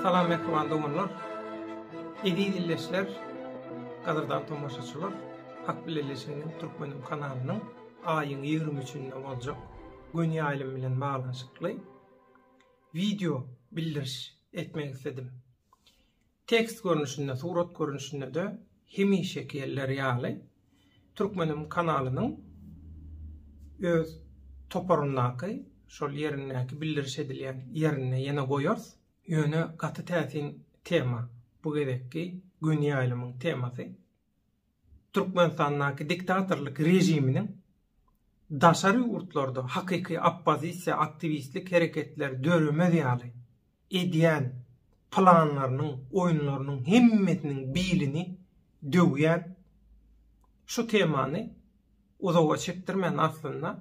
Salam mehriban doganlar. Eziz illeşler, gadyrdan tomaşaçylar, Hak bileleşiginiň türkmen kanalynyň aýyň 23-nde boljak gün ýaýlym bilen baglanyşykly Wideo bildiriş etmek isledim. Tekst görnüşinde, surat görnüşinde-de hemişeki ýerleri ýaly Türkmenim kanalynyň öz toparyndaky şol ýerindäki bildiriş edilýän ýerinde ýene goýarys. Ýöne gaty täsin tema bu gezekki göni ýaýlymyň temasy. Türkmenistandaky diktatorlyk režiminiň daşary ýurtlarda hakyky oppozisiýa aktiwistlik hereketleri döremez ýaly edýän planlarynyň, oýunlarynyň hemmesiniň bilini döwýän şu temany uzaga çekdirmän aslynda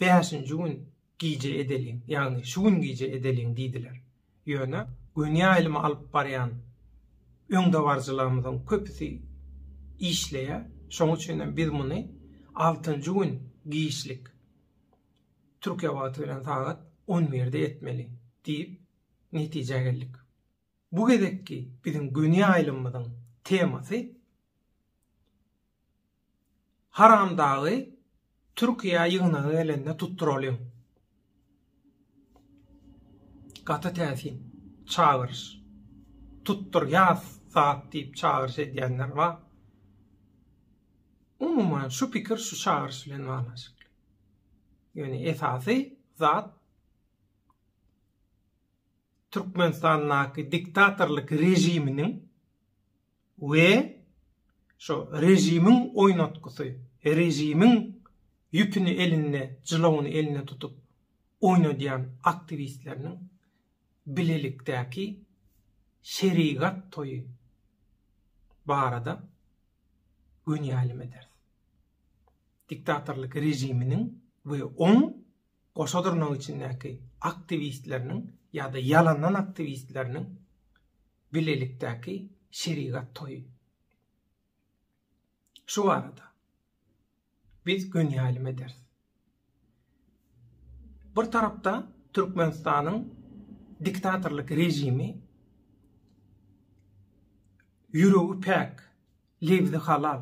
Bäşinji gün gije edeliň, ýagny şu gün gije edeliň diýdiler. Ýöne göni ýaýlymy alyp barýan öňdebaryjylarymyzyň köpüsi işleýär, şonuň üçin hem biz muny altynjy gün giçlik, türkiýe wagty bilen sagat on birde etmeli diýip, netijä geldik. Bu gezekki biziň göni ýaýlymymyzyň temasy, Haramdagy Türkiýä ýygnaga gelende tutduralyň. Gaty täsin çagyryş. Tutdur ýaz sat diýip çagyryş edýänler bar. Umuman şu pikir şu çagyryş bilen baglanşykly. Ýöne esasy zat Türkmenistandaky diktatorlyk režiminiň we şo režimiň oýnatgysy, režimiň ýüpüni elinde, jylawyny elinde tutup oýnadýan aktiwistleriniň bilelikdäki şerigat toýy barada göni aýlym ederis. Diktatorlyk režiminiň we oň goşa durnagyň içindäki aktiwistleriniň ýa-da ýalandan aktiwistleriniň bilelikdäki şerigat toýy. Şu barada biz gün ýaýlym ederis. Bir tarapda Türkmenistanyň diktatorlyk rejimi ýüregi päk, lebzi halal,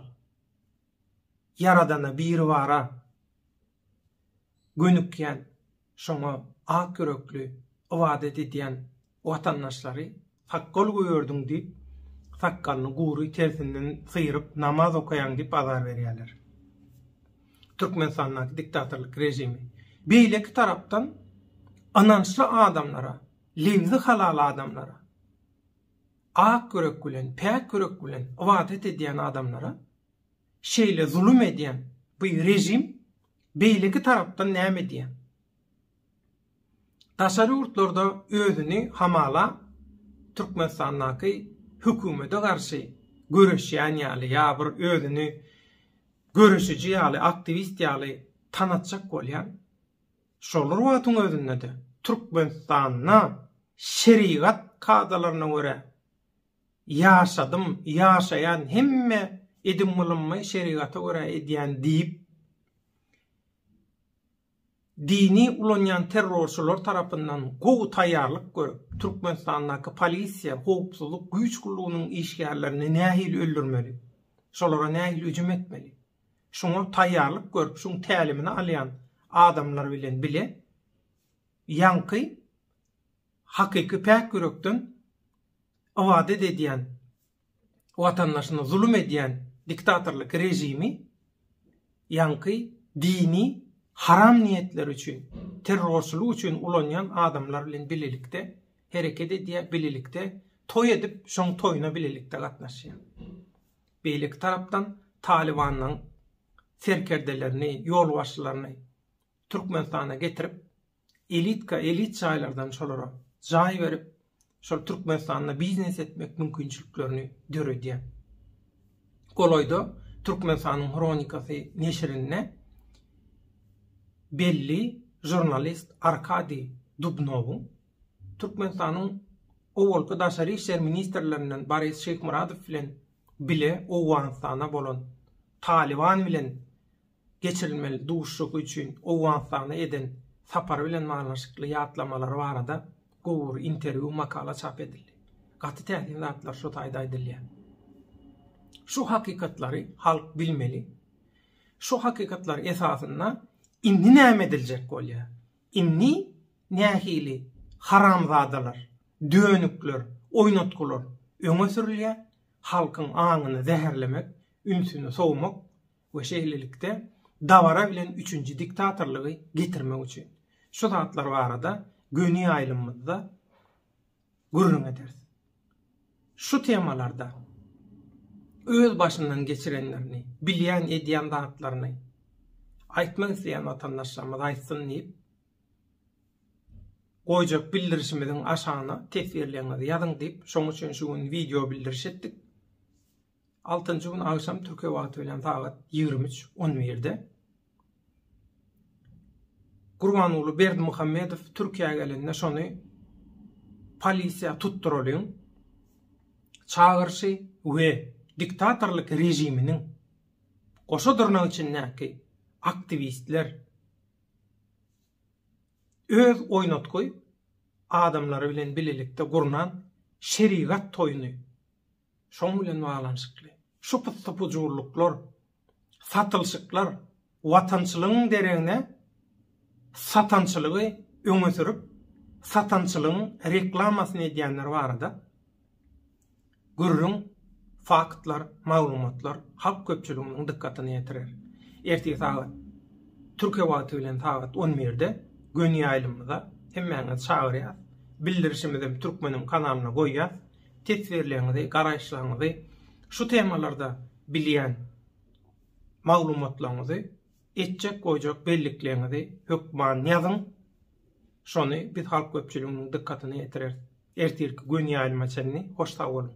ýaradana biribara gönükýän, şoňa ak ýürekli ybadat edýän watandaşlary sakgal gögerdiň diýip, sakgalyny gury tersinden syryp namaz okaýaň diýip azar berýärler. Türkmenistandaky diktatorlyk režimi. Beýleki tarapdan ynançly adamlara, lebzi halal adamlara, ak ýürek bilen, päk ýürek bilen ybadat edýän adamlara Şeýle zulum edýän bu režim beýleki tarapdan näme edýär? Daşary ýurtlarda özüni hamala Türkmenistandaky hökümete garşy göreşýän ýaly ýa bir özüni göreşiji ýaly, aktiwist ýaly tanatjak bolýan. Şolar wagtyň özünde-de Türkmenistanda şerigat kadalaryna görä Ýaşadym, ýaşaýan hemme edim-gylymymy şerigata görä edýän diýip, dini ulanýan terrorçylar tarapyndan gowy taýýarlyk görüp, Türkmenistandaky polisiýa, howpsuzlyk güýç gullugynyň işgärlerini nähili öldürmeli, şolara nähili hüjüm etmeli, şuňa taýýarlyk görüp, şuň tälimini alýan adamlar bilen bile ýaňky Hakyky päk ýürekden ybadat edýän watandaşyna zulum edýän diktatorlyk režimi ýaňky dini haram niýetleri üçin, terrorçylyk üçin ulanýan adamlar bilen bilelikde hereket edýär, bilelikde toý edip, şoň toýuna bilelikde gatnaşýar. Beýleki tarapdan Talybanyň serkerdelerini, ýolbaşçylaryny Türkmenistana getirip, elitka elit jaýlardan şolara jaý berip, şol Türkmenistanda biznes etmek mümkinçiliklerini döredýär. Golaýda Türkmenistanyň hronikasy neşirinde belli žurnalist Arkadiý Dubnowyň Türkmenistanyň owalky daşary işler ministrlerinden Boris Şeýhmyradow bilen bile Owganystana bolan Talyban bilen geçirilmeli duşuşyk üçin Owganystana eden sapary bilen baglanyşykly ýatlamalary barada gowy bir interwýu makala çap edildi. Gaty täsin zatlar şu taýda aýdylýar. Şu hakykatlary halk bilmeli. Şu hakykatlar esasynda indi näme ediljek bolýar? Indi nähili haramzadalar, dönükler, oýnatgylar öňe sürülýär? Halkyň aňyny zäherlemek, ünsüni sowmak we şeýlelikde dabara bilen üçünji diktatorlygy getirmek üçin. Şu zatlar barada göni ýaýlymymyzda gürrüň ederis. Şu temalarda öz başyndan geçirenlerini, bilýän edýän zatlaryny aýtmak isleýän watandaşlarymyz aýtsyn diýip, goýjak bildirişimiziň aşagyna teswirleriňizi ýazyň diýip, şoň üçin şu gün wideo bildiriş etdik. Altynjy gün agşam Türkiýe wagty bilen sagat ýigrimi üç on birde Gurbanguly Berdimuhamedow Türkiýä gelende şony polisiýa tutduralyň çagyryşy we diktatorlyk režiminiň goşa dyrnak içindäki aktiwistler öz oýnatgy adamlary bilen bilelikde gurnan şerigat toýuny Şoň bilen baglanyşykly, şu pyssy-pujurlyklar, satylşyklar watançylygyň deregine satançylygy öňe sürüp, satançylygyň reklamasyny edýänler barada gürrüň, faktlar, maglumatlar halk köpçüliginiň dykgatyna ýetirer. Ertir sagat, Türkiýe wagty bilen sagat on birde göni ýaýlymyza hemmäňizi çagyrýas. Bildirişimizem Türkmenim kanalyna goýýas. teswirleňizi, garaýyşlaňyzy, şu temalarda bilýän maglumatlaňyzy, etjek goýjak bellikleňizi hökman ýazyň. Şony biz halk köpçüliginiň dykgatyna ýetireris. Ertirki gönýaýlyma çenli hoş sag boluň.